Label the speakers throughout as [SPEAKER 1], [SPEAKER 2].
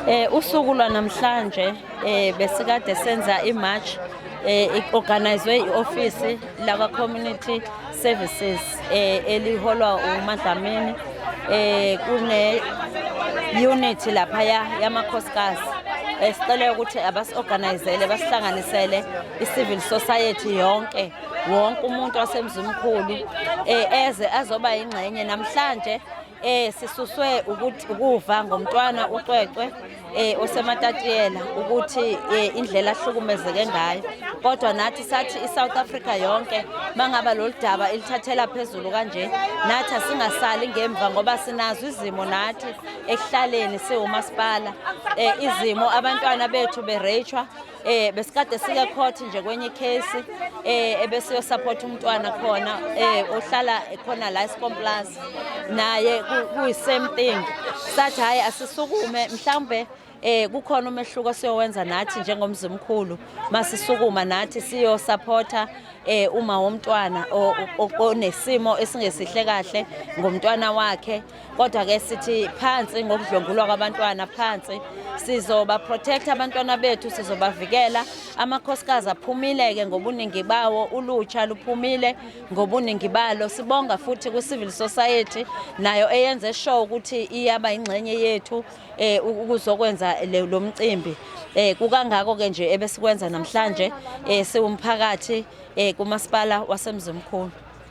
[SPEAKER 1] Eh usuku lwanamhlanje eh besikade senza imarch eh iorganizwe ioffice lakwa community services eh eliholwa uMadlamini eh kune unit lapha yamakhosikazi esicela eh, ukuthi abasorganizele basihlanganisele i-civil society yonke wonke umuntu wasemzimkhulu eh eze azoba ingxenye namhlanje Eh sisuswe ukuthi ukuva ngomntwana uCwecwe eh osematatiyela ukuthi eh, indlela ahlukumezeke ngayo kodwa nathi sathi iSouth Africa yonke mangaba loludaba ilithathela phezulu kanje nathi singasali ngemva ngoba sinazo izimo nathi ekuhlaleni siwumasipala eh izimo abantwana bethu berechwa eh besikade sike court nje kwenye case eh ebesiyo support umntwana khona eh ohlala khona la esikomplas naye kuyi same thing sathi hayi asisukume mhlambe eh kukhona umehluko siyowenza nathi njengomzimkhulu masisukuma nathi siyo supporter eh uma womntwana onesimo esingesihle kahle ngomntwana wakhe kodwa ke sithi phansi ngokudlwengulwa kwabantwana phansi sizoba protect abantwana bethu sizobavikela amakhosikazi aphumile ke ngobuningi bawo ulutsha luphumile ngobuningi balo sibonga futhi ku civil society nayo eyenze show ukuthi iyaba ingxenye yethu eh ukuzokwenza lo mcimbi eh kukangako ke nje ebesikwenza namhlanje eh siwumphakathi eh kumasipala wasemzimkhulu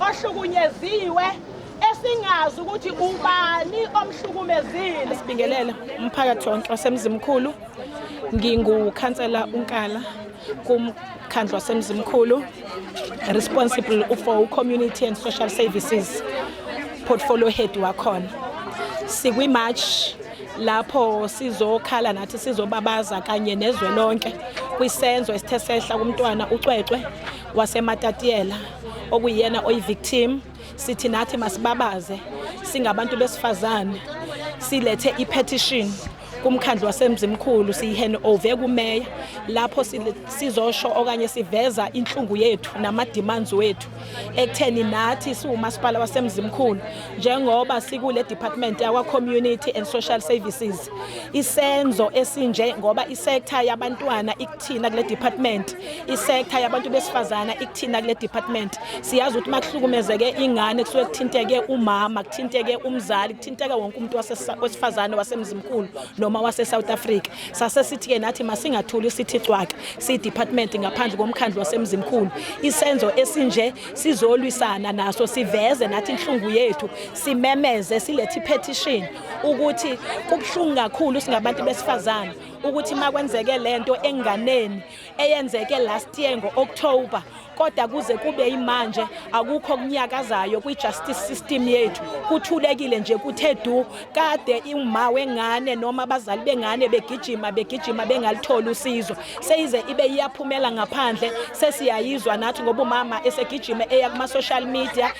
[SPEAKER 2] ohlukunyeziwe esingazi ukuthi ubani omhlukumezile sibingelela
[SPEAKER 3] umphakathi wonke wasemzimkhulu ngingukhansela unkala kumkhandlu wasemzimkhulu responsible for community and social services portfolio head wakhona sikwimarch lapho sizokhala nathi sizobabaza kanye nezwe lonke kwisenzo esithe sehla kumntwana ucwecwe wasematatiyela okuyena oyi-victim sithi nathi masibabaze singabantu besifazane silethe i-petition kumkhandlu wasemzimkhulu siyihene ove kumeya lapho sizosho okanye siveza inhlungu yethu nama-demands wethu ekutheni nathi siwumasipala wasemzimkhulu njengoba sikule department yakwa-community and social services isenzo esinje ngoba isektha yabantwana Thina kule department isektha yabantu besifazana ikuthina kule department siyazi ukuthi makuhlukumezeke ingane kusuke kuthinteke umama kuthinteke umzali kuthinteke wonke umuntu wasesifazane wasemzimkhulu noma wase South Africa sase sithi ke nathi masingathuli sithi cwaka si department ngaphandle komkhandlu wasemzimkhulu isenzo esinje sizolwisana naso siveze nathi inhlungu yethu simemeze silethi petition ukuthi kubuhlungu kakhulu singabantu besifazane ukuthi makwenzeke lento enganeni eyenzeke last year ngo-October kodwa kuze kube imanje akukho kunyakazayo kwi-justice system yethu kuthulekile nje kuthe du kade uma wengane noma abazali bengane begijima begijima bengalitholi usizo seyize ibe iyaphumela ngaphandle sesiyayizwa nathi ngoba umama esegijima eya kuma-social media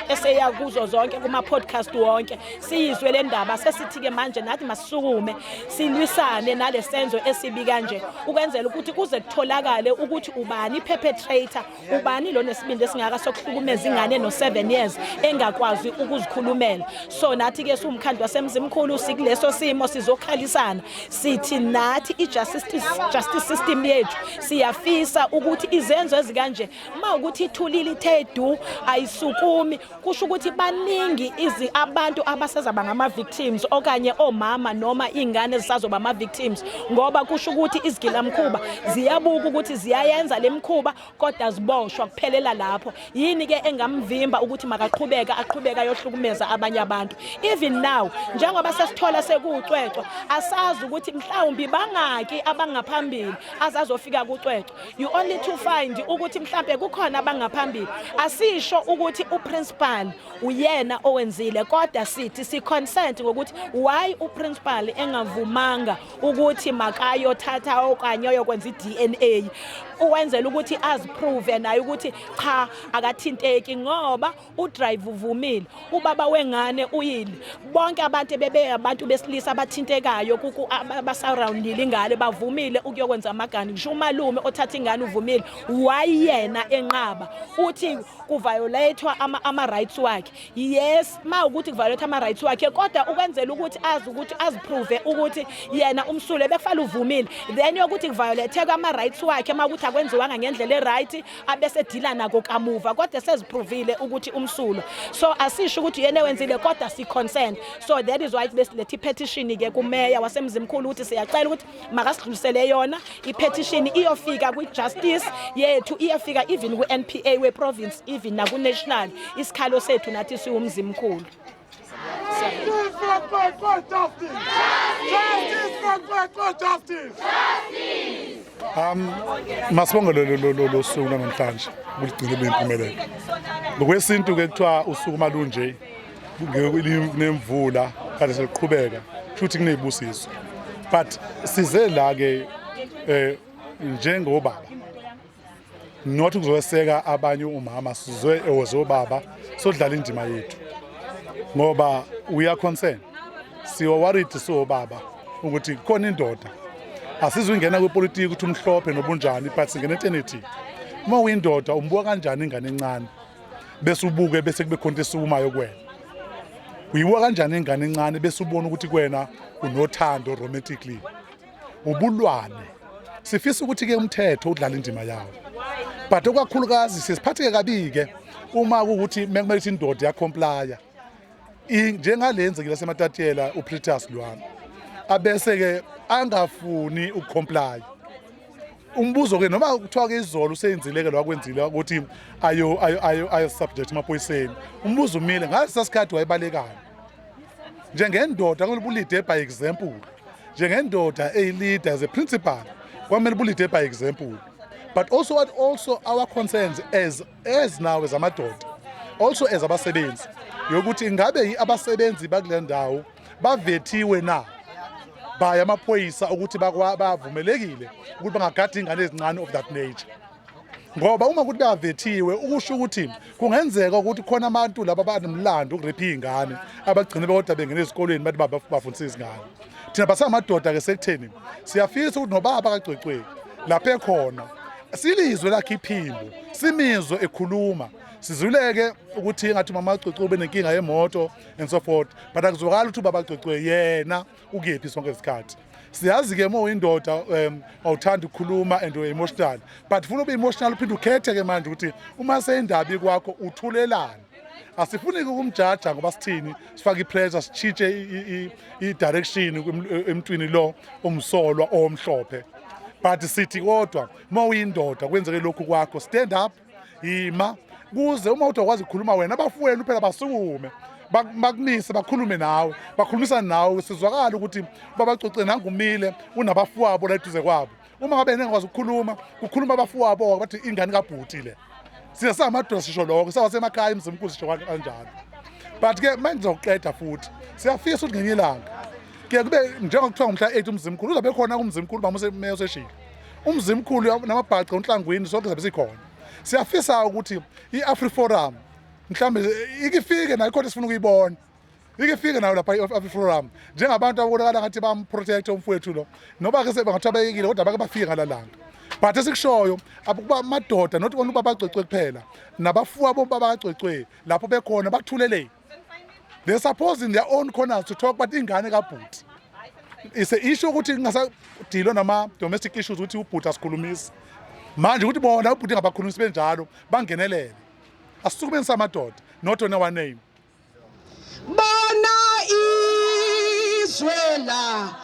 [SPEAKER 3] eseya kuzo zonke kuma-podcast wonke siyizwe le ndaba sesithi-ke manje nathi masisukume silwisane nalesenzo esibi kanje ukwenzela ukuthi kuze kutholakale ukuthi ubani perpetrator ubani lo nesibindi esingaka sokuhlukumeza ingane no 7 years engakwazi ukuzikhulumela so nathi ke siwumkhandlu wasemzimkhulu sikuleso simo sizokhalisana sithi nathi ijustice justice system yethu siyafisa ukuthi izenzo ezikanje uma ukuthi ithulile ithe du ayisukumi kusho ukuthi baningi izi abantu abasezaba ngama victims okanye omama noma ingane zisazoba ama victims ngoba kusho ukuthi izigilamkhuba ziyabuka ukuthi ziyayenza lemkhuba kodwa ziboshwa kuphelela lapho yini ke engamvimba ukuthi makaqhubeka aqhubeka yohlukumeza abanye abantu even now njengoba sesithola sekucwecwa asazi ukuthi mhlawumbi bangaki abangaphambili azazofika kucwecwa you only to find ukuthi mhlambe kukhona abangaphambili asisho ukuthi uprincipal uyena owenzile kodwa sithi si consent ngokuthi why uprincipal engavumanga ukuthi makayothatha okanye oyokwenza iDNA uwenzela ukuthi aziprove naye ukuthi cha akathinteki ngoba udrive uvumile ubaba wengane uyile bonke abantu bebe abantu besilisa abathintekayo kuku abasurroundile ingane bavumile ukuyokwenza amagani ngisho umalume othatha ingane uvumile wayena enqaba uthi kuviolatewa ama ama rights wakhe yes ma ukuthi kuviolate ama rights wakhe kodwa ukwenzela ukuthi azi ukuthi aziprove ukuthi yena umsule befala uvumile then yokuthi kuviolatewa ama rights wakhe ma ukuthi akwenziwanga ngendlela e right abesedila nako kamuva kodwa seziprovile ukuthi umsulo so asisho ukuthi yena wenzile kodwa si consent so that is why besilethe ipetition ke kumeya wasemzimkhulu ukuthi siyacela ukuthi makasidlulisele yona ipetition iyofika kwi justice yethu iyafika even ku NPA we province even na ku national isikhalo sethu nathi siwumzimkhulu
[SPEAKER 4] Um, masibonge lolu suku namhlanje kuligcine luyimpumelelo ngokwesintu-ke kuthiwa usuku uma lunje nemvula kade seliqhubeka futhi kunezibusiso but size la ke eh njengobaba not ukuzoseka abanye umama sizwe ewozobaba sodlala indima yethu ngoba we are concerned siwa worried siwobaba ukuthi khona indoda asizungena kwepolitiki ukuthi umhlophe nobunjani but singena eternity uma uyindoda umbuka kanjani ingane encane bese ubuke bese kube khonto esukumayo kuwena uyibuka kanjani ingane encane bese ubona ukuthi kuwena unothando romantically ubulwane sifisa ukuthi ke umthetho udlala indima yawo but okwakhulukazi sesiphatheke kabike uma ukuthi mekumele ukuthi indoda yakhomplaya njengale yenzekile sematatiyela upritus lwami abese ke angafuni ukukhomplaya umbuzo ke noma kuthiwa ke izolo useyenzile ke lwakwenzile ukuthi ayo ayo ayo ayo subject emaphoyiseni umbuzo umile ngaso sasikhathi wayebalekana njengendoda kumele bulide by example njengendoda eyilida as a principal kwamele bulide by example but also what also our concerns as as now as amadoda also as abasebenzi yokuthi ingabe abasebenzi bakule ndawo bavethiwe na by amaphoyisa ukuthi bavumelekile ukuthi bangagada ingane ezincane of that nature ngoba uma kuthi kavethiwe ukusho ukuthi kungenzeka ukuthi khona abantu laba banomlando ukurepha iy'ngane abagcine bekodwa bengena ezikolweni bathi bafundisa izingane thina basamadoda-ke sekutheni siyafisa ukuthi nobaba kagcwecweni lapho ekhona silizwe lakhe iphimbo simizwe ekhuluma sizuleke ukuthi engathi mama agcwecwe ube nenkinga yemoto and so forth but akuzwakali ukuthi ubaba agcwecwe yena ukephi sonke isikhathi siyazi ke uma uyindoda um awuthanda ukukhuluma and uemotional but funa ube emotional uphinde ukhethe ke manje ukuthi uma seyindaba ikwakho uthulelani asifuni ukumjaja ngoba sithini sifake ipressure sitshintshe i-direction emntwini lo omsolwa omhlophe but sithi kodwa uma uyindoda kwenzeke lokhu kwakho stand up yima kuze uma uthi wakwazi ukukhuluma wena abafowenu phela basukume bakumise bakhulume nawe bakhulumisane nawe sizwakala ukuthi babacoce nangumile unabafowabo la eduze kwabo uma ngabe engakwazi ukukhuluma kukhuluma abafowabo bathi ingane kabhuti le siya samadoda sisho lokho sawasemakhaya emzimkhulu sisho kanjalo but ke manje ngizoqeda futhi siyafisa ukuthi ngenye ilanga ke kube njengoba kuthiwa ngumhla 8 umzimkhulu uzabe khona kumzimkhulu bamuse meyo seshilo umzimkhulu namabhaca unhlangwini sonke zabe sikhona siyafisa ukuthi i-afriforum mhlawumbe ikifike nayo khona sifuna ukuyibona ikifike nayo lapha i-afriforum njengabantu ababonakala ngathi bamprotect umfowethu lo noba ke sebangathiwa bayekile kodwa bake bafike ngala langa but esikushoyo ukuba amadoda not only uba bagcwecwe kuphela nabafuwa bomba bagcwecwe lapho bekhona bathuleleni they suppose in their own corners to talk but ingane kabhuti is a issue ukuthi kungasadilwa nama domestic issues ukuthi ubhuti asikhulumisi manje ukuthi bona ubhuti ngabakhulumisi benjalo bangenelele asisukumenisa amadoda not on our name
[SPEAKER 2] bona izwe
[SPEAKER 4] la